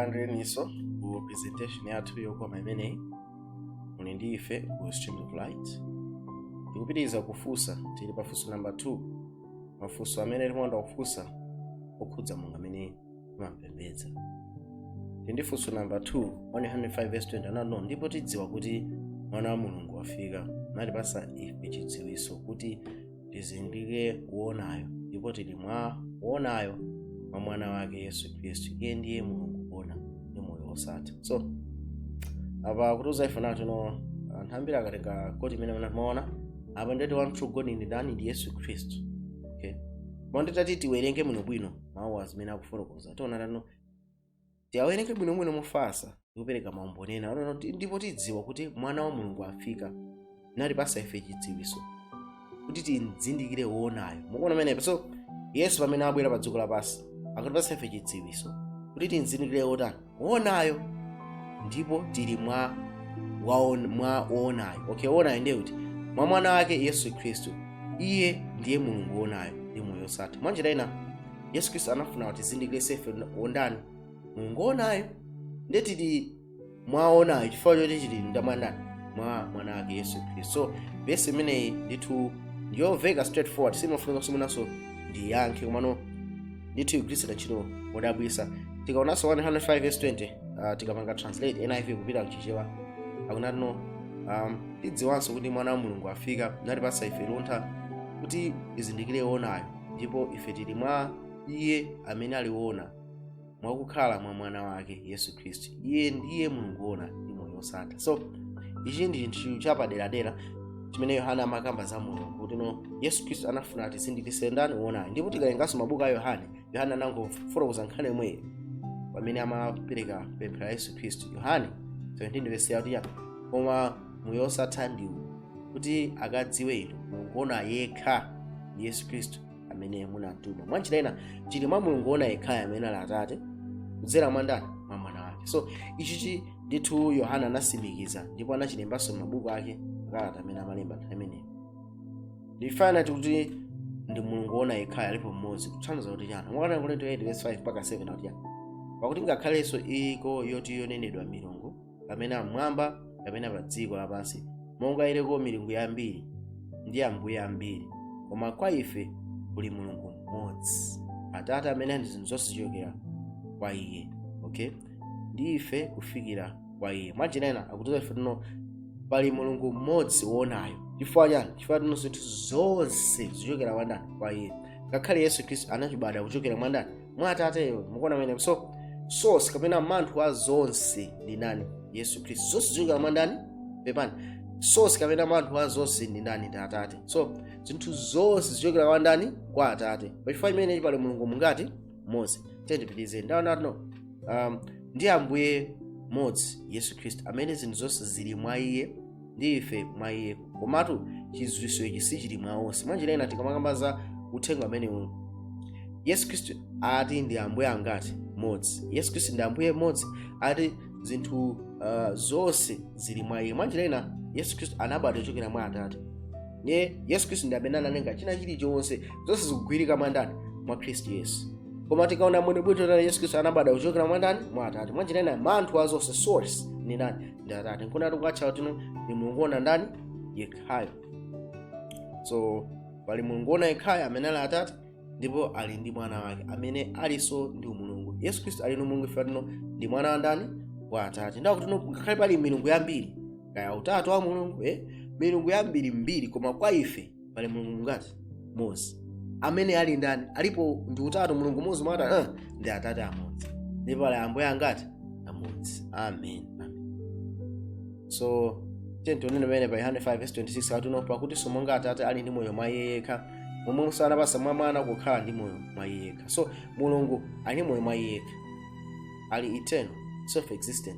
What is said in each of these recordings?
tilandireniso ku presentation yathu yokoma imeneyi muli ndi ife ku stream of light tikupitiriza kufunsa tili pa funso namba 2 mafunso amene timakonda kufunsa okhudza mulungu amene timampembedza tili ndi funso namba 2 1 john 5 verse 20 anati no ndipo tidziwa kuti mwana wa mulungu wafika natipasa ife chidziwiso kuti tizindikire woonayo ndipo tili mwa woonayo mwa mwana wake yesu khristu iye ndiye mulungu woona ndi moyo wosatha so apa akutiuza ife nati no anthu ambiri akatenga quote imeneyi amaona apa ngati one true god ndi ndani ndi yesu khristu okay koma nditati tiwerenge bwinobwino mawuwa zimene akufotokoza tiona tiyeni tiawerenge bwinobwino mofasa ndikupereka maumboni ena onena kuti ndipo tidziwa kuti mwana wa mulungu afika natipasa ife chidziwiso kuti timzindikire woonayo mukuona pamenepo so yesu pamene abwera pa dziko lapansi akatipasa ife chidziwiso kuti timzindikire wotani woonayo ndipo tili mwa waon, mwa woonayo okay woonayo ndiye kuti mwa mwana wake yesu khristu iye ndiye mulungu woonayo ndi moyo osatha mwa njira ina yesu khristu anafuna kuti atizindikiritse ife wondani mulungu woonayo ndiye tili mwa woonayo chifukwa choti tili mwa ndani mwa mwana wake yesu khristu so vesi imeneyi ndithu ndiyomveka straightforward simafunikanso mwinanso ndiyankhe komano ndithu igwiritsidwa ntchito modabwisa tikaonanso 1 john 5 verse 20 uh, tikapanga translate niv kupita kuchichewa akunati no um, tidziwanso kuti mwana wa mulungu afika natipasa ife luntha kuti tizindikire woonayo ndipo ife tili mwa iye amene ali woona mwakukhala mwa mwana wake yesu khristu iye ndiye mulungu woona ndi moyo wosatha so ichi ndi chinthu chapaderadera chimene yohane amakamba za mulungu kuti no yesu khristu anafuna atizindikise ndani woonayo ndipo tikawerenganso mabuku a yohane yohane anangofotokoza nkhani yomweyo pamene amapereka pemphero la yesu khristu yohane 17 vesi ya 3 ya koma moyo wosatha ndi uwu kuti akadziwe inu mulungu woona yekha ndi yesu khristu amene munamtuma mwa njira ina tili mwa mulungu woona yekhayo amene ali atate kudzera mwa ndani mwa mwana wake so ichichi ndithu yohane anasimikiza ndipo anachilembanso m'mabuku ake kalata amene amalemba nthawi imeneyo ndifana tikuti ndi mulungu woona yekhayo alipo mmodzi kutanthauza kuti chani mwa 1 akorinto 8 verse 5 mpaka 7 akuti chani pakuti ngakhalenso iko yoti yonenedwa milungu kapena mmwamba kapena pa dziko lapansi monga iliko milungu yambiri ndi ambuye ambiri koma kwa ife kuli mulungu mmodzi atate amene ndi zinthu zonse zichokera kwa iye okay ndi ife kufikira kwa iye mwa njira ina akutiuza ife tino pali mulungu mmodzi woonayo chifukwa chani chifukwa tino zinthu zonse zichokera kwa ndani kwa iye ngakhale yesu khristu anachibadwa kuchokera mwa ndani mwa atateyo mukuona pamenepo so source kapena manthu wa zonse ndi ndani yesu khristu zonse zichokera mwa ndani pepani source kapena manthu wa zonse ndi ndani ndi atate so zinthu zonse zichokera kwa ndani kwa atate pachifukwa imeneyi pali mulungu mungati mmodzi tiyeni tipitize ndaonatino um, ndi ambuye mmodzi yesu khristu amene zinthu zonse zili mwa iye ndi ife mwa iye komatu chidziwitso ichi sichili mwa onse mwanjira ina tikamakamba za uthenga umenewu yesu khristu ati ndi ambuye angati mmodzi yesu khristu ndi ambuye mmodzi ati zinthu uh, zonse zili mwa iye mwanjira ina yesu khristu anabadwa kuchokera mwa atate ye yesu khristu ndi amene analenga china chilichonse zonse zikugwirika mwa ndani mwa khristu yesu koma tikaona mwene bwito tani yesu khristu anabadwa kuchokera mwa ndani mwa atate mwanjira ina manthu wa zonse source ndi ndani ndi atate nkuona kuti akutcha kuti ndi mulungu woona ndani yekhayo so pali mulungu woona yekhayo amene ali atate ndipo ali ndi mwana wake amene alinso ndi umulungu yesu khristu ali ndi umulungu ife tino ndi mwana wa ndani wa atate ndakuti tino ngakhale pali milungu yambiri kaya utatu wa mulungu eh? milungu yambirimbiri koma kwa ife pali mulungu mungati mmodzi amene ali ndani alipo ndi utatu mulungu mmodzi mwata uh, ndi atate amodzi ndipo ali ambuye angati amodzi amen so tiyeni tione pamene pa yohane 5:26 atino pakuti monga atate ali ndi moyo mwa iye yekha momwemonso anapasa mwa mwana kukhala ndi moyo mwa iye yekha so mulungu ali ndi moyo mwa iye yekha ali eternal self existent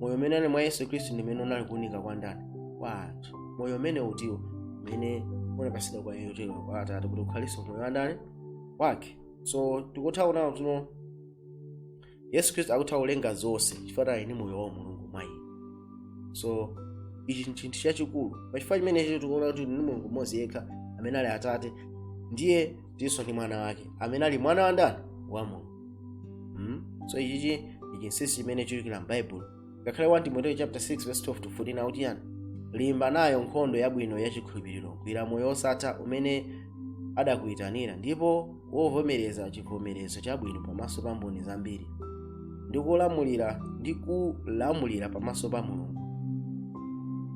moyo umene ali mwa yesu khristu ndi umene unali kuunika kwa ndani kwa anthu moyo umene utiwo umene unapatsidwa kwa iye utero kwa atate kuti ukhalinso moyo wa ndani wake so tikutha kuona kuti tino yesu khristu akutha kulenga zonse chifukwa ati ali ndi moyo wa mulungu mwa iye so ichi nchinthu chachikulu pachifukwa chimenechi tikuona kuti ndi mulungu mmodzi yekha amene ali atate ndiye tinso ndi mwana wake amene ali mwana wa ndani wa mulungu mm? so ichichi ndi chinsinsi chimene chichokera m'baibulo ngakhale 1 timoteyo chapter 6 verse 12 to 14 akuti yani limba nayo nkhondo yabwino yachikhulupiriro gwira moyo wosatha umene adakuyitanira ndipo unavomereza chivomerezo chabwino pamaso pa mboni zambiri ndikulamulira ndikulamulira pamaso pa mulungu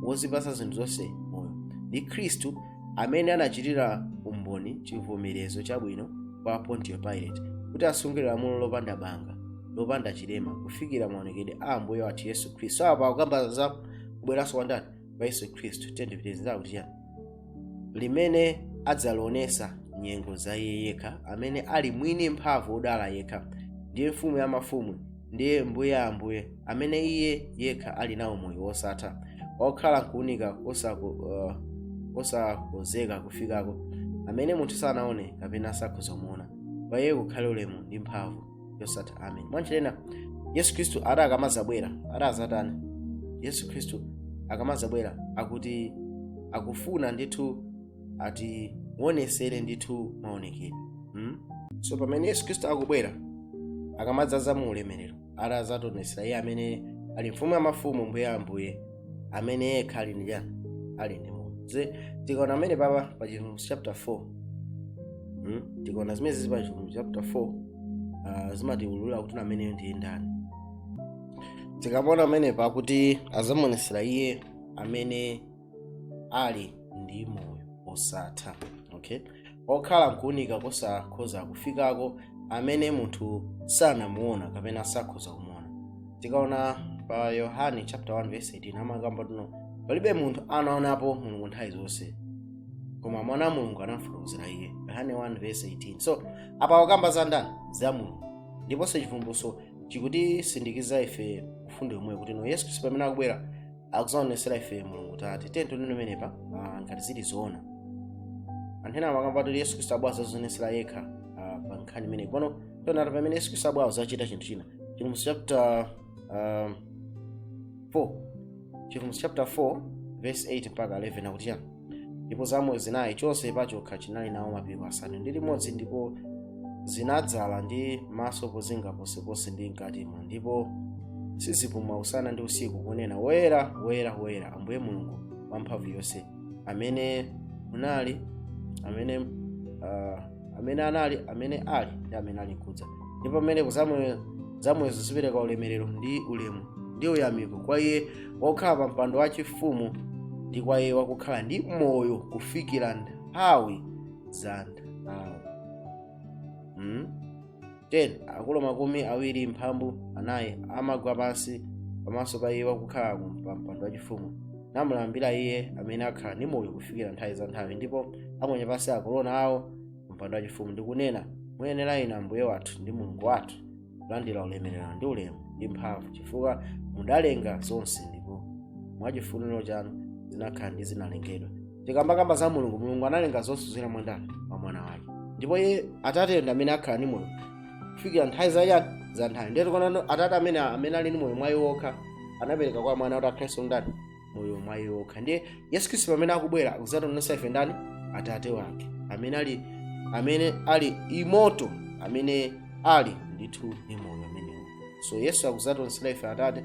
wozipasa zinthu zonse moyo ndi khristu amene anachitira umboni chivomerezo chabwino kwa pontiyo pilate kuti asungire lamulo lopanda banga lopanda chilema kufikira maonekedwe a ambuye wathu yesu khristu apa akukamba za kubweranso kwa ndani kwa yesu khristu tendipitiriza kuti chani limene adzalionesa nyengo za iye yekha amene ali mwini mphamvu odala yekha ndiye mfumu ya mafumu ndiye mbuye a ambuye amene iye yekha ali nawo moyo wosatha okhala nkuunika kosakhozeka uh, kufikako amene munthu sanaone kapena sakhoza kumuona kwa iye kukhale ulemu ndi mphamvu yosatha amen mwanjira ina yesu khristu ati akamazabwera ati azatani yesu khristu akamazabwera akuti akufuna ndithu atiwonesere ndithu maonekedwe hmm? so pamene yesu khristu akubwera akamadzaza mu ulemerero ati adzationetsera iye amene ali mfumu ya mafumu mbuye wa ambuye amene yekha ali ndi chani ali ndi moyo Ze- tikaona amene papa pa chivumbulutso chapter 4 hmm? tikaona zimene zili pa chivumbulutso chapter 4 uh, zimatiululira kuti ameneyo ndiye ndani tikaona amene pakuti adzamuonetsera iye amene ali ndi moyo osatha okay okhala nkuunika kosakhoza kufikako amene munthu sanamuona kapena sakhoza kumuona tikaona pa yohane chapter 1 verse 18 amakamba kuti no palibe munthu anaonapo mulungu nthawi zonse koma mwana wa mulungu anamfotokozera iye yohane 1 verse 18 so apa akukamba za ndani za mulungu ndiponso chivumbulutso chikutisindikiza ife mfundo yomweyo kuti no yesu khristu pamene akubwera akuzaonesera ife mulungu tate tiye tione pamenepa ah, ngati zili zoona anthu ena amakamba kuti yesu khristu abwera kuzazionesera yekha ah, pa nkhani imeneyi pano tionata pamene yesu khristu abwera kuzachita chinthu china chivumbulutso chapter ah, 4 chivumbulutso chapter 4 verse 8 mpaka 11 akuti chani ndipo zamoyo zinayi chonse pachokha chinali nawo mapiko asanu ndi limodzi ndipo zinadzala ndi maso pozinga ponseponse ndi mkatimo ndipo sizipuma usana ndi usiku kunena woyera woyera woyera ambuye mulungu wamphamvu yonse amene munali amene uh, amene anali amene ali ndi amene ali nkudza ndipo pamenepo zamoyozo zipereka ulemerero ndi ulemu ndi uyamiko kwa iye wokhala pa mpando wachifumu ndi kwa iye wakukhala ndi moyo kufikira nthawi za nthawi hmm? 10 akulu makumi awiri mphambu anayi amagwa pansi pamaso pa iye wakukhala pa mpando wachifumu namulambira iye amene akhala ndi moyo kufikira nthawi za nthawi ndipo aponya pansi akorona awo mpando wachifumu ndikunena muyenera inu ambuye wathu ndi mulungu wathu kulandira ulemerero ndi ulemu ndi mphamvu chifukwa mudalenga zonse ndipo mwachifuniro chanu zinakhala ndi zinalengedwa tikamakamba za mulungu mulungu analenga zonse kudzera mwa ndani mwa mwana wake ndipo iye atate ndi amene akhala ndi moyo kufikira nthawi za chani za nthawi ndiye tikuona atate amene amene ali ndi moyo mwa iye yekha anapereka kwa mwana kuti akhalenso ndi chani moyo mwa iye yekha ndiye yesu khristu pamene akubwera akuzationetsa ife ndani atate wake amene ali amene ali immortal amene ali ndithu ndi moyo umenewo so yesu akuzationetsera ife atate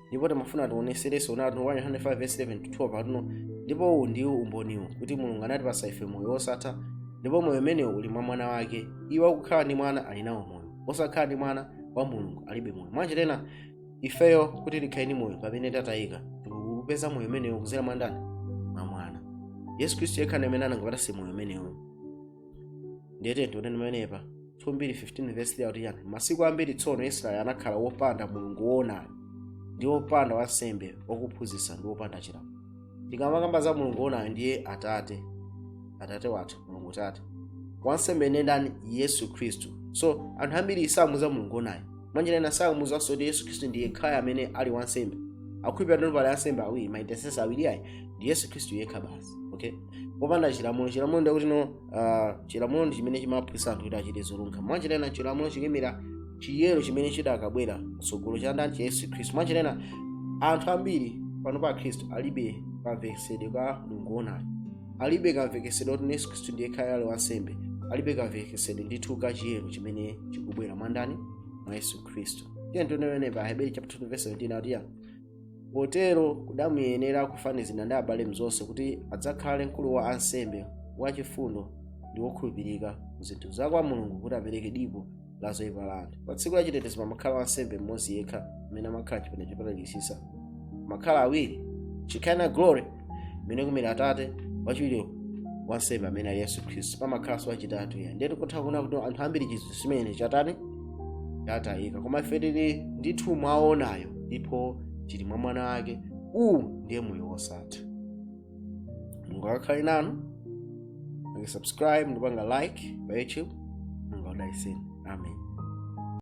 ndipo timafuna tionetserenso na atumwi 105:11-12 patuno ndipo uwu ndiwo umboniwo kuti mulungu anatipasa ife moyo wosatha ndipo moyo umenewu uli mwa mwana wake iye wakukhala ndi mwana ali nawo moyo wosakhala ndi mwana wa mulungu alibe moyo mwanjira ina ifeyo kuti tikhale ndi moyo pamene tatayika tikupeza moyo umenewo kuzera mwa ndani mwa mwana yesu khristu yekha ndi amene angatipatse moyo umenewo ndiye tiyeni tione pamenepa 2:15 verse 3 akuti chani masiku ambiri tsono israeli anakhala wopanda mulungu woonayo ndi wopanda wansembe wakuphunzitsa ndi wopanda chilamulo tikamakamba za mulungu woonayo ndiye atate atate wathu mulungu tate wansembe ndi ndani yesu khristu so anthu ambiri sakumudziwa mulungu woonayo mwanjira ina samudziwanso kuti yesu khristu ndi yekhayo amene ali wansembe akukhulupirira kuti pali ansembe awiri ma intercessor awiri ayi ndi yesu khristu yekha basi okay wopanda chilamulo chilamulo ndikuti no uh, chilamulo ndi chimene chimaphunzitsa anthu kuti achite zolungama mwanjira ina chilamulo chikuyimira chiyero chimene chidzakabwera mtsogolo cha ndani cha yesu khristu mwanjira ina anthu ambiri pano pa khristu alibe kamvetsetsedwe ka mulungu woonayo alibe kamvetsetsedwe kuti yesu khristu ndi yekhayo ali wansembe alibe kamvetsetsedwe ndithu ka chiyero chimene chikubwera mwa ndani mwa yesu khristu tiyeni tione pa aheberi chapter 2 verse 17 akuti chani potero kudamuyenera kufanizidwa ndi abale mzonse kuti adzakhale mkulu wa ansembe wachifundo ndi wokhulupirika mu zinthu za kwa mulungu kuti apereke dipo la zoyipa la anthu pa tsiku la chitetezo pamakhala wansembe mmodzi yekha amene amakhala chipinda chopatulikitsitsa mumakhala awiri shekinah glory imene ikuimira atate wachiwiri wansembe amene ali yesu khristu pamakhalanso wachitatu ayi ndiye tikutha kuona kuti anthu ambiri ndi chinthu chimene chatani chatayika koma ife tili ndithu mwa woonayo ndipo tili mwa mwana wake uwu ndiye moyo wosatha mulungu akakhale nanu mupange subscribe ndikupanga like pa youtube mulungu akudalitseni amen